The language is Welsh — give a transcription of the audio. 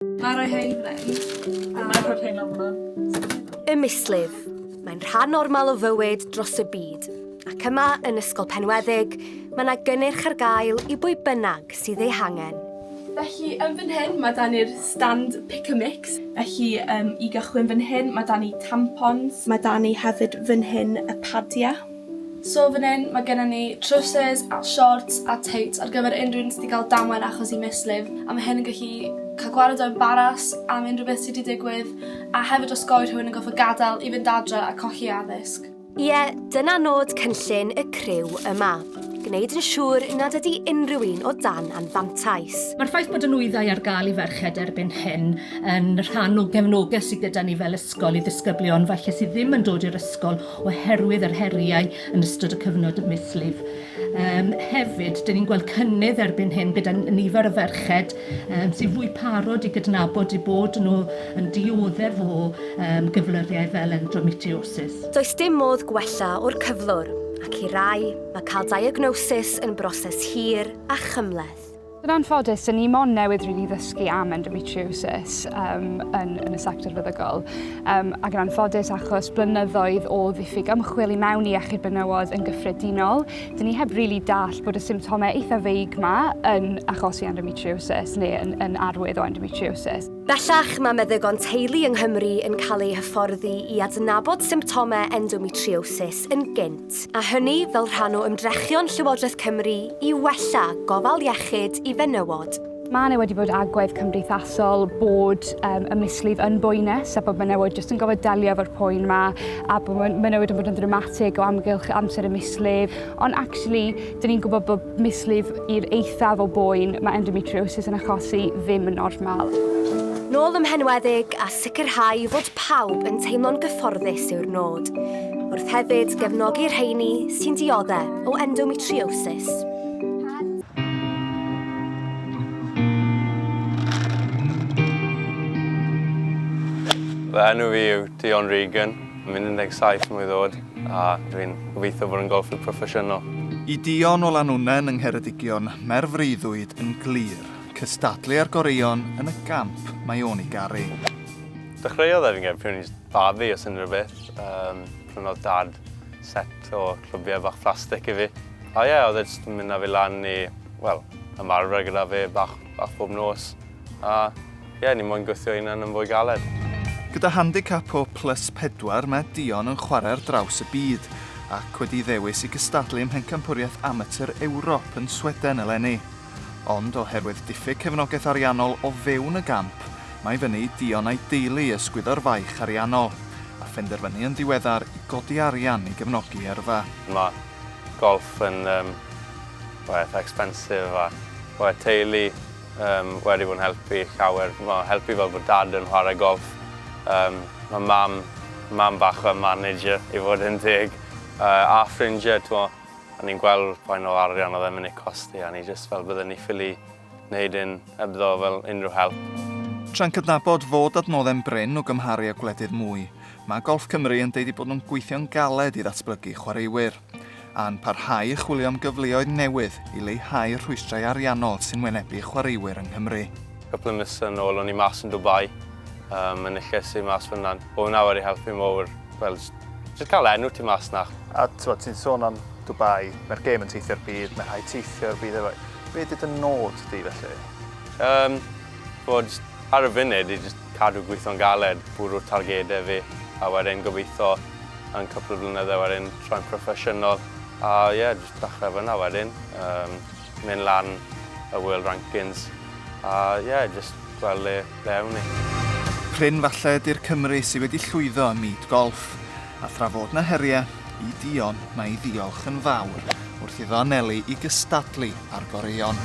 Mae rhai hein yn gwneud. A mae rhai hein ofnod. Y mislif. Mae'n rhan normal o fywyd dros y byd. Ac yma, yn Ysgol Penweddig, mae yna gynnyrch ar gael i bwy bynnag sydd ei hangen. Felly, yn fan hyn, mae dan ni'r stand pick a mix. Felly, um, i gychwyn fan hyn, mae dan ni tampons. Mae dan ni hefyd fan hyn y padiau. So fan 'yn ma' gynnon ni trowsus a siorts a tights ar gyfer unryw un sy 'di ga'l damwain achos 'i mislif a ma' hyn yn gallu ca'l gwared o embaras am unryw beth sy 'di digwydd a hefyd osgoi rhywun yn goffod gadel i fynd adre a colli addysg. Ie, dyna nod cynllun y criw yma, gwneud yn siŵr nad ydi unrhyw un o dan anfantais. Mae'r ffaith bod y nwyddau ar gael i ferched erbyn hyn yn rhan o gefnogaeth sydd gyda ni fel ysgol i ddisgyblion falle sydd ddim yn dod i'r ysgol oherwydd yr heriau yn ystod y cyfnod mislif. Um, hefyd, dyn ni'n gweld cynnydd erbyn hyn gyda nifer o ferched um, sy'n fwy parod i gydnabod i bod nhw yn dioddef o um, gyflyrriau fel endometriosis. Does dim modd gwella o'r cyflwr, ac i rai, mae cael diagnosis yn broses hir a chymleth. Yn anffodus, dyn ni mon newydd rili ddysgu am endometriosis um, yn, yn y sector feddygol. Um, ac yn anffodus, achos blynyddoedd o ddiffyg ymchwil i mewn i iechyd benywod yn gyffredinol, dyn ni heb rili really dall bod y symptomau eitha feig ma yn achosi endometriosis neu yn, yn arwydd o endometriosis. Bellach, mae meddygon teulu yng Nghymru yn cael eu hyfforddi i adnabod symptomau endometriosis yn gynt. plant, a hynny fel rhan o ymdrechion Llywodraeth Cymru i wella gofal iechyd i fenywod. Mae yna wedi bod agwedd cymdeithasol bod um, y mislif yn boenus a bod menywod jyst yn gofod delio efo'r poen yma a bod menywod yn bod yn ddramatig o amgylch amser y mislif. Ond actually, dyn ni'n gwybod bod mislif i'r eithaf o boen mae endometriosis yn achosi ddim yn normal. Nôl ymhenwedig a sicrhau fod pawb yn teimlo'n gyfforddus yw'r nod. wrth hefyd gefnogi'r rheini sy'n dioddau o endometriosis. Fy enw fi yw Dion Regan, yn mynd 17 mwy ddod, a dwi'n gobeithio bod yn golfwr proffesiynol. I Dion o Lanwnen yng Ngheredigion, mae'r freuddwyd yn glir, cystadlu â'r goreuon yn y gamp mae o'n ei garu. Dechreuodd efo'n gêm pryd o'n i Fab fi, os unrhyw beth, yym, prynodd Dad set o clybiau bach plastig i fi. A ie, oedd e jyst yn mynd â fi lan i, wel, ymarfer gyda fe bach, bach bob nos. A ie, ni moyn gwthio hunan yn fwy galed. Gyda handicap o plus pedwar, mae Dion yn chwarae ar draws y byd, ac wedi ei ddewis i gystadlu ym Mhencampwriaeth Amatur Ewrop yn Sweden eleni. Ond oherwydd diffyg cefnogaeth ariannol o fewn y gamp, mae fyny i Dion a'i deulu ysgwyddo'r faich ariannol, a phenderfynu yn ddiweddar i godi arian i gefnogi yrfa. Mae golff yn well eitha expensive a mae teulu wedi bod yn helpu llawer, wel helpu fel bod Dad yn chwarae golff, mae Mam, Mam bach fel manager i fod yn deg, a ffrindiau t'mo. O'n i'n gweld faint o arian oedd e'n mynd i costi a o'n i jyst fel bydden ni ffili wneud hyn hebddo fel unrhyw help. Tra'n cydnabod fod adnoddau'n brin o gymharu â gwledydd mwy, mae Golff Cymru yn deud eu bod nhw'n gweithio'n galed i ddatblygu chwaraewyr, a'n parhau i chwilio am gyfleoedd newydd i leihau'r rhwystrau ariannol sy'n wynebu chwaraewyr yng Nghymru. Cwpl o misoedd yn ôl o'n i mas yn Dubai, yn y lle sy' mas fan'na. Oedd hwnna wedi helpu mawr, fel Ti wedi cael enw ti mas na. A ti'n ti sôn am Dubai, mae'r gêm yn teithio'r byd, mae rhai teithio'r byd efo. Be ydy dy nod di felly? Um, bod ar y funud i just cadw gweithio'n galed, bwrw'r targedau fi, a wedyn gobeithio yn cwpl o flynyddau wedyn troi'n proffesiynol. A ie, yeah, just dechrau fyna wedyn. Um, mynd lan y World Rankings a ie, jyst gweld le ble awn ni. Prin falle ydy'r Cymry sy wedi llwyddo ym myd golff, a thra fod 'na herie i Dion mae ei ddiolch yn fawr wrth iddo anelu i gystadlu â'r goreuon.